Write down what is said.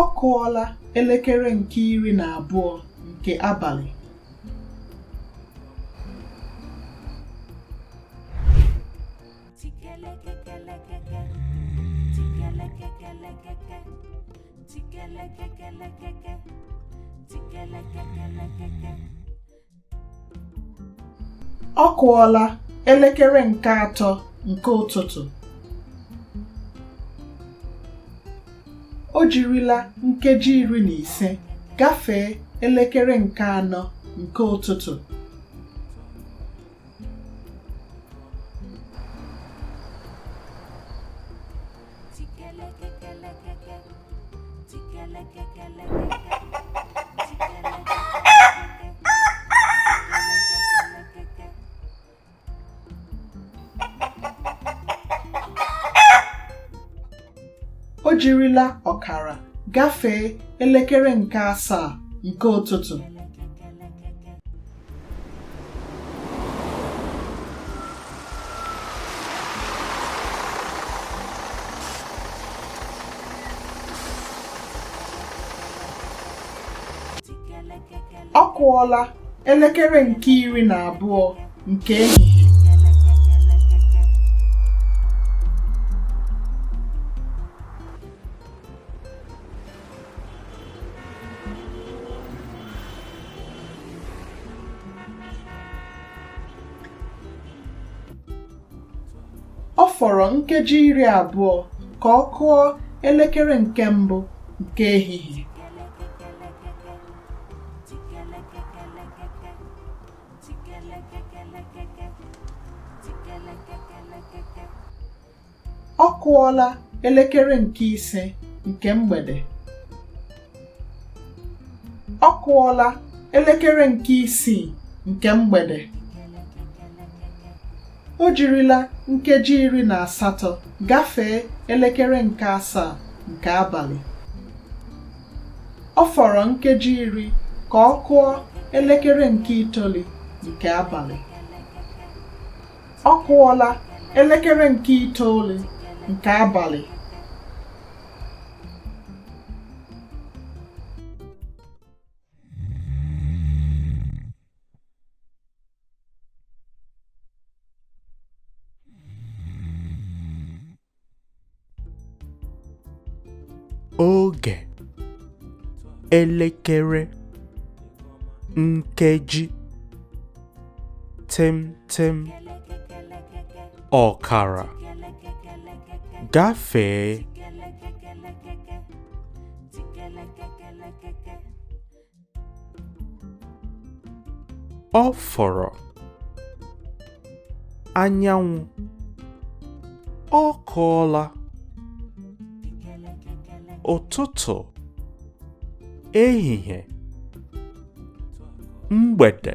ọ kụọla elekere nke iri na abụọ nke abalị ọ kụọla elekere nke atọ nke ụtụtụ o jirila nkeji iri na ise gafee elekere nke anọ nke ụtụtụ o jirila ọkara gafee elekere nke asaa nke ụtụtụ ọ kụọla elekere nke iri na abụọ nke ehihie ọ fọrọ nkeji iri abụọ ka ọ kụọ elekere nke mbụ nke ehihie ọ kụọla elekere nke ise nke mgbede ọ kụọla elekere nke isii nke mgbede o jirila nkeji iri na asatọ gafee elekere nke asaa nke abalị ọ fọrọ nkeji iri ka ọ kụọ elekere nke itoolu nke abalị ọ kụọla elekere nke itoolu nke abalị oge elekere nkeji tịm tịm ọkara gafee ọ fọrọ anyanwụ ọ kụọla ụtụtụ ehihie mgbede